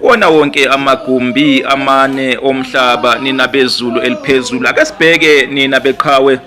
wona wonke amagumbi amane omhlaba nina bezulu eliphezulu ake sibheke nina beqhawe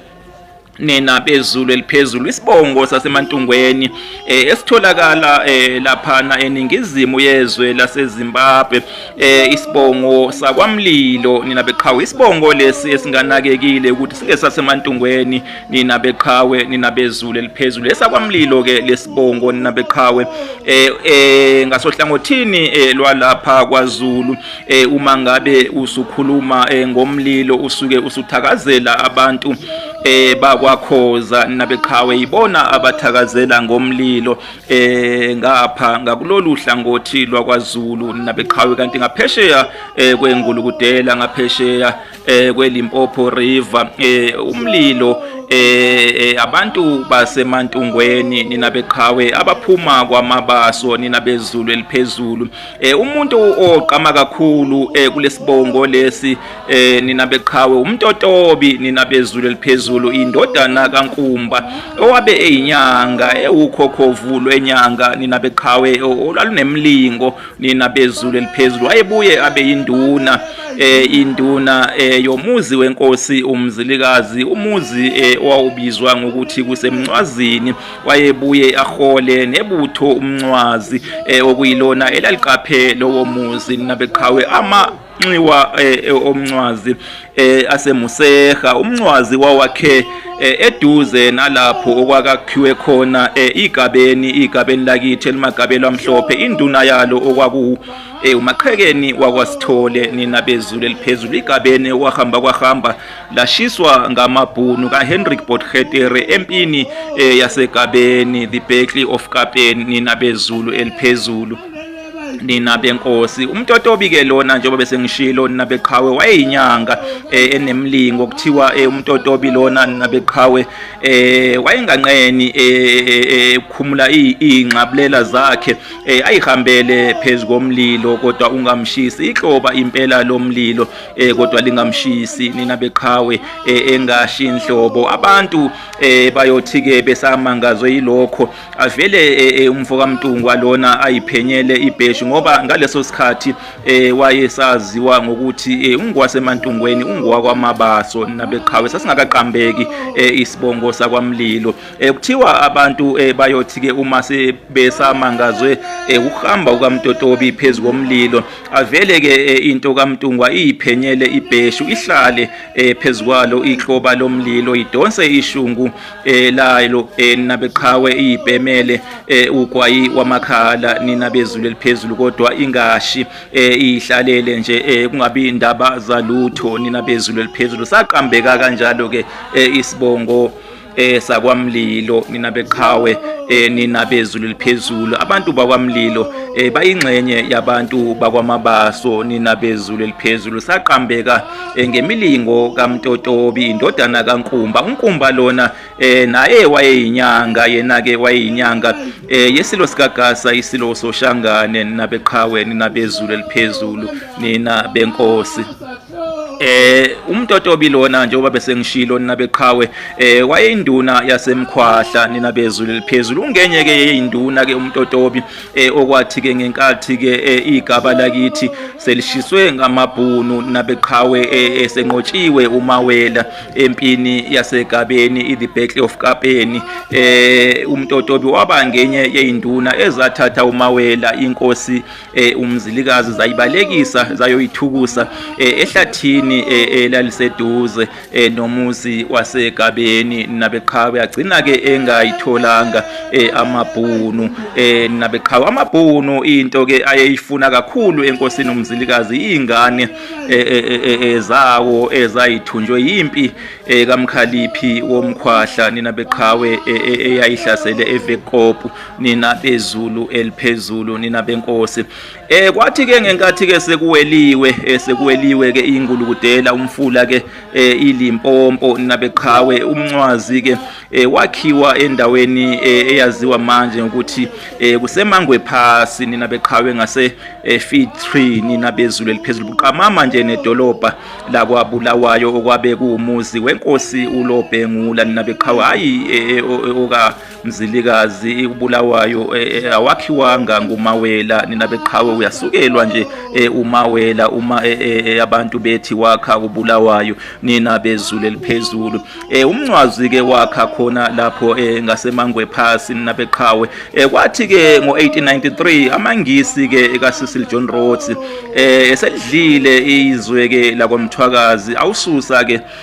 nina bezulu eliphezulu isibongo sasemantungweni eh, esitholakala eh, laphana eningizimu yezwe laseZimbabwe eh, isibongo sakwamlilo nina beqhawe isibongo lesi esinganakekile ukuthi singesasemantungweni nina beqhawe nina bezulu eliphezulu esakwamlilo ke lesibongo nina beqhawe eh, eh ngasohlangothini eh, lwalapha kwaZulu eh, uma ngabe usukhuluma eh, ngomlilo usuke usuthakazela abantu eh bakwakhoza nabeqhawe ibona abathakazela ngomlilo eh ngapha ngakulolu hlangothi lwakwazulu nabeqhawe kanti ngaphesheya eh kwengulukudela ngaphesheya eh kweLimpopo River eh umlilo eh, eh abantu basemantungweni nina beqhawe abaphuma kwamabaso nina bezulu eliphezulu eh umuntu oqama kakhulu eh kulesibongo lesi eh nina beqhawe umtotobi nina bezulu eliphezulu indodana kaNkumba owabe eyinyanga ewukhokhovu lwenyanga nina beqhawe olalunemlingo nina bezulu eliphezulu wayebuye abe yinduna eh induna eh yomuzi wenkosi umzilikazi umuzi eh, owawubizwa ngokuthi kusemncwazini wayebuye ahole nebutho umncwazi eh, okuyilona elaliqaphe lowo muzi nabeqhawe ama nxiwa eh, eh, omncwazi eh, asemuseha umncwazi wawakhe eduze nalapho okwakakhiwe khona igabeni igabeni lakithi elimagabelo amhlophe induna yalo okwaku umaqhekeni wakwasithole nina bezulu eliphezulu igabeni okwahamba kwahamba lashiswa ngamabhunu kaHenrik Botchetere empini yasegabeni the Battle of Kapen nina bezulu eliphezulu nina benkosi umtotobi ke lona njengoba bese ngishilo nina beqhawe wayeyinyanga eh, enemlingo kuthiwa eh, umtotobi lona nina beqhawe eh, wayenganqeni ukukhumula ingxabulela zakhe ayihambele phezulu komlilo kodwa ungamshisi ihloba impela lomlilo kodwa lingamshisi nina beqhawe engashi inhlobo abantu bayothi ke besamangazwe yilokho avele e, e, umfo kaMntungwa lona ayiphenyele ibheshi ngoba ngaleso sikhathi e, wayesaziwa ngokuthi ungowasemantungweni ungowakwamabaso nabeqhawe sasingakaqambeki isibongo sakwaMlilo kuthiwa abantu bayothi ke uma sebesamangazwe ukuhamba ukaMtotobi phezu komlilo avele ke into kaMntungwa iyiphenyele ibheshu ihlale phezu kwalo ikloba lomlilo idonse ishungu elayilo eh, nina beqhawe iyibhemele eh, ugwayi wamakhala nina bezulu eliphezulu kodwa ingashi eh, ihlalele nje kungabi indaba zalutho nina bezulu eliphezulu saqambeka kanjalo ke isibongo eh sakwamlilo nina beqhawe eh nina bezulu liphezulu abantu bakwamlilo eh bayingxenye yabantu bakwamabaso nina bezulu liphezulu saqambeka eh, ngemilingo kaMtotobi indodana kaNkumba uNkumba lona eh, naye wayeyinyanga yena ke wayeyinyanga eh, yesilo sikagasa isilo soshangane nabeqhawe ninabezulu eliphezulu nina benkosi eh umtotobi lona njengoba bese ngishilo nina beqhawe eh wayeyinduna yasemkhwahla nina bezulu eliphezulu ungenye ke yeyinduna ke umtotobi e, okwathi ke ngenkathi ke e, igaba lakithi selishiswe ngamabhunu nabeqhawe e, esenqotshiwe umawela empini yasegabeni i-the battle of kapeni eh umtotobi waba ngenye yeinduna ezathatha umawela inkosi umzilikazi zayibalekisa zayoyithukusa ehlathini elaliseduze eh nomuzi wasegabeni nabeqhawe agcina ke engayitholanga eh amabhunu eh nabeqhawe amabhunu into ke ayeyifuna kakhulu enkosini umzilikazi ingane eh, eh, eh, ezawo ezayithunjwe yimpi kamkhaliphi womkhwahla nina beqhawe eyayihlasele evekopu nina bezulu eliphezulu nina benkosi Eh kwathi ke ngenkathi ke sekuweliwe eh, sekuweliwe ke ingulukudela umfula ke eh, ilimpompo nabeqhawe umncwazi ke eh, wakhiwa endaweni eyaziwa manje ukuthi kusemangwe phasi nina beqhawe ngase feed tree nina bezulu eliphezulu buqamama nje nedolobha lakwa Bulawayo okwabe kuwumuzi wenkosi uLobhengula nina beqhawe hayi oka Mzilikazi uBulawayo eh, eh, awakhiwanga ngumawela nina beqhawe uyasukelwa nje eh, umawela uma abantu bethi wakha uBulawayo nina bezulu eliphezulu umncwazi ke wakha khona lapho ngasemangwe phasi nina beqhawe kwathi ke ngo1893 amangisi ke kaSisil John Rhodes esedlile izwe ke lakwamthwakazi awususa ke